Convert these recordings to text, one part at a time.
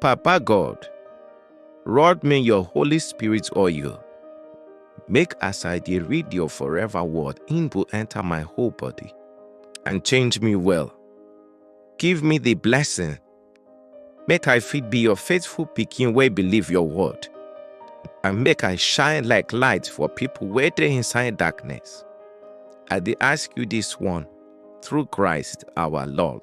Papa God, rod me your Holy Spirit oil. Make as I dey read your forever word, in go enter my whole body and change me well. Give me the blessing. Make I fit be your faithful pikin wey believe your word. And make I shine like light for people wey dey inside darkness. I dey ask you this one through Christ our Lord.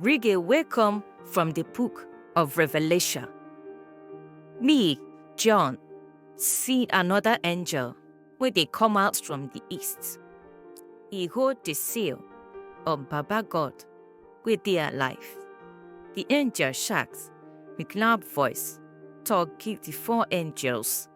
Rige wey come from di book of Revelation. Me, John, see anoda angel wey dey come out from di east. E hold di seal of Baba God wey dey alive. Di angel shout wit loud voice tok give di four angels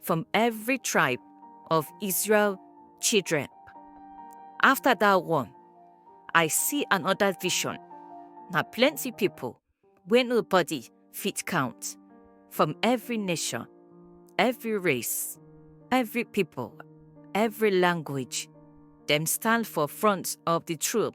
from every tribe of Israel children. After that one, I see another vision. Now plenty people, where nobody fit count, from every nation, every race, every people, every language, them stand for front of the troop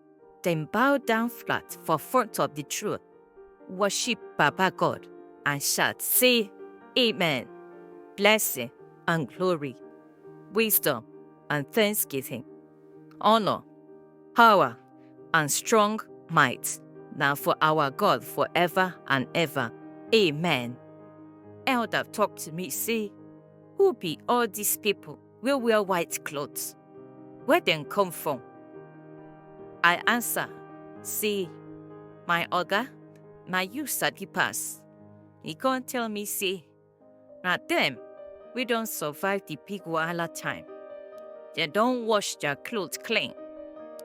Dem bow down flat for front of di throne, worship Baba God, and shout sey, Amen! Blessing and glory, wisdom and thanksgiving, honour, power and strong might na for our God forever and ever. Amen! Elder talk to me sey, Who be all dis pipo? wey wear white cloth, Where dem come from? I answer say, My oga, na you sabi pass. He come tell me say, Na dem wey don survive the big wahala time. Dem don wash their cloth clean.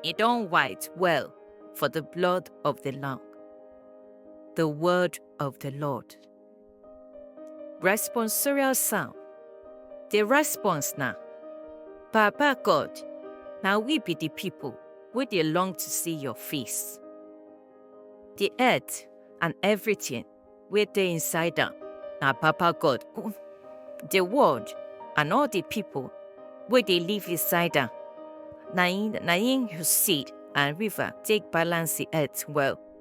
E don white well for the blood of the Lamb. The word of the Lord. Responsorial sound. The response na, Papa God, na we be the people wey dey long to see your face. The earth and everything wey dey inside am na Papa God own. The world and all the people wey dey live inside am na im na im you seed and river take balance the earth well.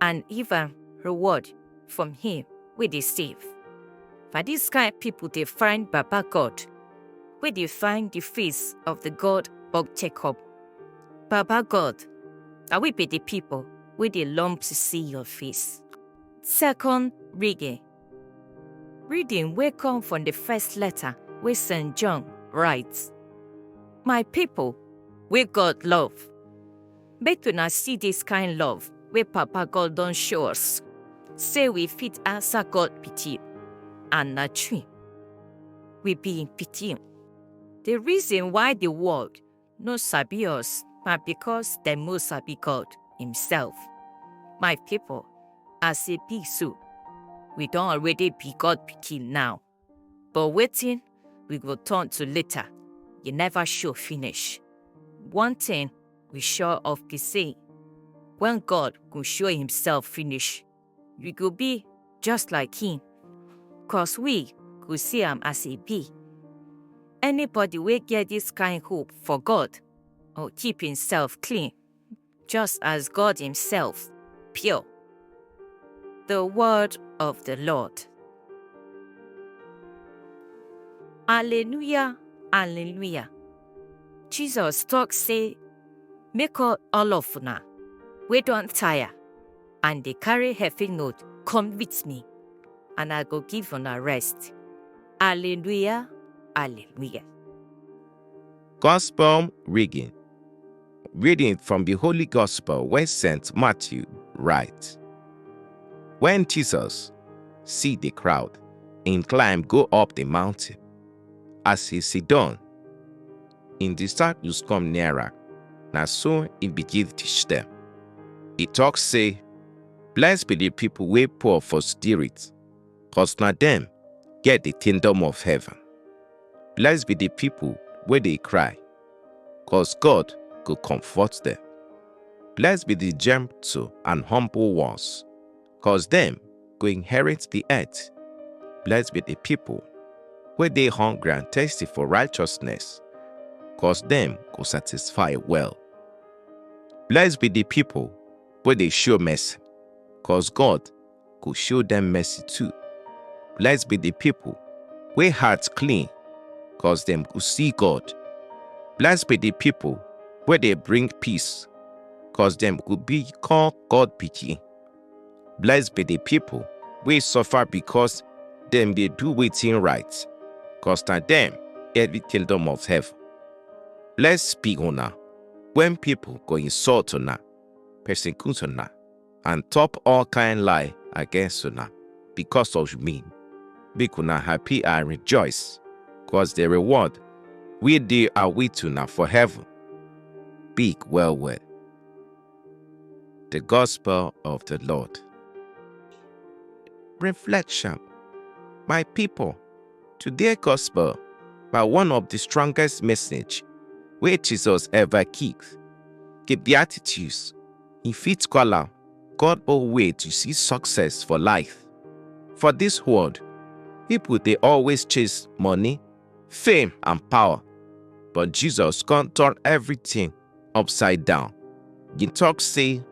and even reward from him wey dey save. Na dis kain pipo dey find Baba God, wey dey find di face of di God of Jacob. Baba God, na we be di pipo wey dey long to see your face. Second reading. Reading wey come from di first letter wey St. John write. My pipo wey God love, Make una see dis kain love wey Papa God don show us, sey we fit ansa God pikin, and na true, we be im pikin. Di reason why di world no sabi us na becos dem no sabi God imsef. My pipo, as e be so, we don already be God pikin now. But waiting, we go turn to later. You never show finish. One thing we sure of be say, when God go show himself finish, we go be just like him. Cause we go see am as he be. Anybody wey get this kind hope for God or keep himself clean just as God Himself, pure. The word of the Lord. Alleluia, Alleluia. Jesus talk say, make all all of una wey don tire and dey carry heavy load come with me, and I go give una rest. Alleluia, Alleluia. Gospel reading. Reading from the Holy Gospel where St. Matthew writes. When Jesus see the crowd, he climb go up the mountain. As he sit down, in disciples come nearer, na so he begin teach them. He talk say, Blessed be the people wey poor for spirit, cause na dem get the kingdom of heaven. Blessed be the people wey dey cry, cause God go comfort them. Blessed be the gentle and humble ones, cause dem go inherit the earth. Blessed be the people wey dey hungry and thirsty for righteousness, cause dem go satisfy well. Blessed be the people wey dey show mercy, cause God go show dem mercy too. Blessed be the people wey heart clean, cause dem go see God. Blessed be the people wey dey bring peace, cause dem go become God pikin. Blessed be the people wey suffer because dem dey do wetin right, cause na dem get the kingdom of heaven. Blessed be una when people go insult una, persecute una, and talk all kind lie against una because of me. Make una happy and rejoice, cause the reward we dey await una for heaven big well well. The Gospel of the Lord. Reflection My people, today gospel by one of the strongest message where Jesus ever keeps. Keep the attitudes he fit call am God own way to see success for life. For this world, people dey always chase money, fame and power, but Jesus come turn everything upside down. He talk say,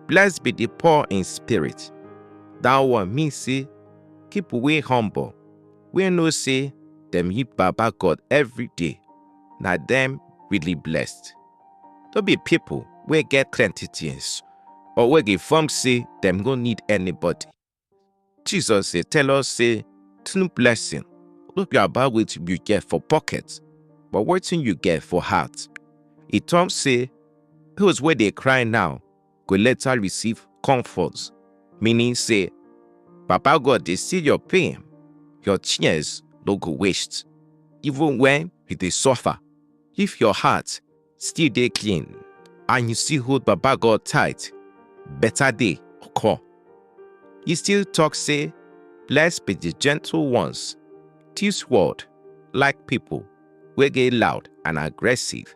blessed be the poor in spirit. That one mean say, people wey humble, wey know say dem need Baba God every day, na dem really blessed. no be pipo wey get plenty tins or wey dey form say dem no need anybody. Jesus dey tell us say true blessing no be about wetin you get for pocket but wetin you get for heart. E talk say those wey dey cry now go later receive comfort, meaning say Papa God dey see your pain, your tears no go waste. Even when you dey suffer, if your heart still dey clean and you still hold Baba God tight, better day go come. He still talk say, Blessed be the gentle ones, this world like people wey dey loud and aggressive,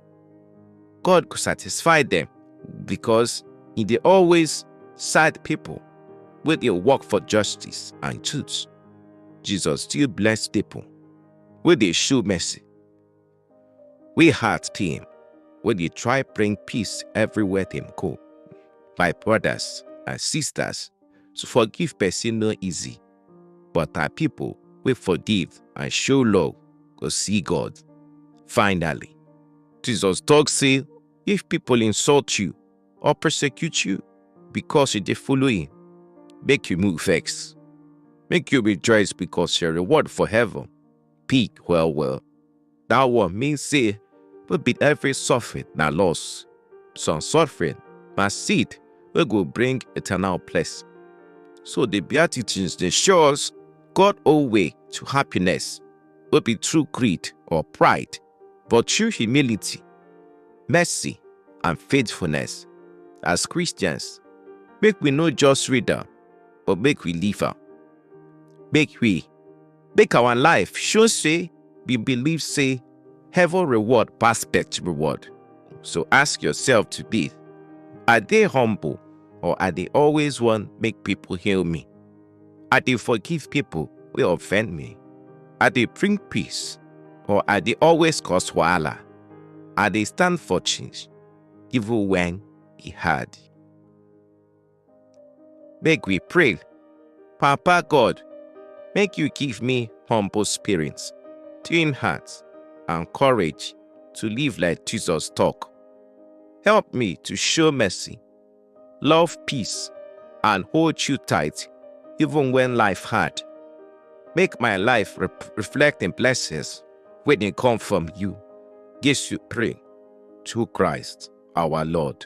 God go satisfy them because he dey always side people wey dey work for justice and truth. Jesus still bless people wey dey show mercy. We heart team wey dey try bring peace everywhere dem go. My brothers and sisters, to forgive person no easy. but na pipo wey forgive and show love go see God. Finally, Jesus tok sey if pipo insult you or persecute you becos you dey follow him, make you move vex. Make you rejoice becos your reward for heaven big well well. That one mean say no be every suffering na loss. Some suffering na seed wey go bring eternal blessing. So the Beatitudes dey show us God own way to happiness, no be through greed or pride, but through humility, mercy, and faithfulness. As Christians, make we no just read am, but make we live am. Make we make our life show say we believe say heaven reward pass earth reward. So ask yourself today, I dey humble or I dey always want make people hail me? I dey forgive people wey offend me? I dey bring peace or I dey always cause wahala? I dey stand for change even when e hard. Make we pray. Papa God, make you give me humble spirit, clean heart, and courage to live like Jesus talk. Help me to show mercy, love peace, and hold you tight even when life hard. Make my life rep- reflect in blessings when they come from you. Yes, you pray to Christ our Lord.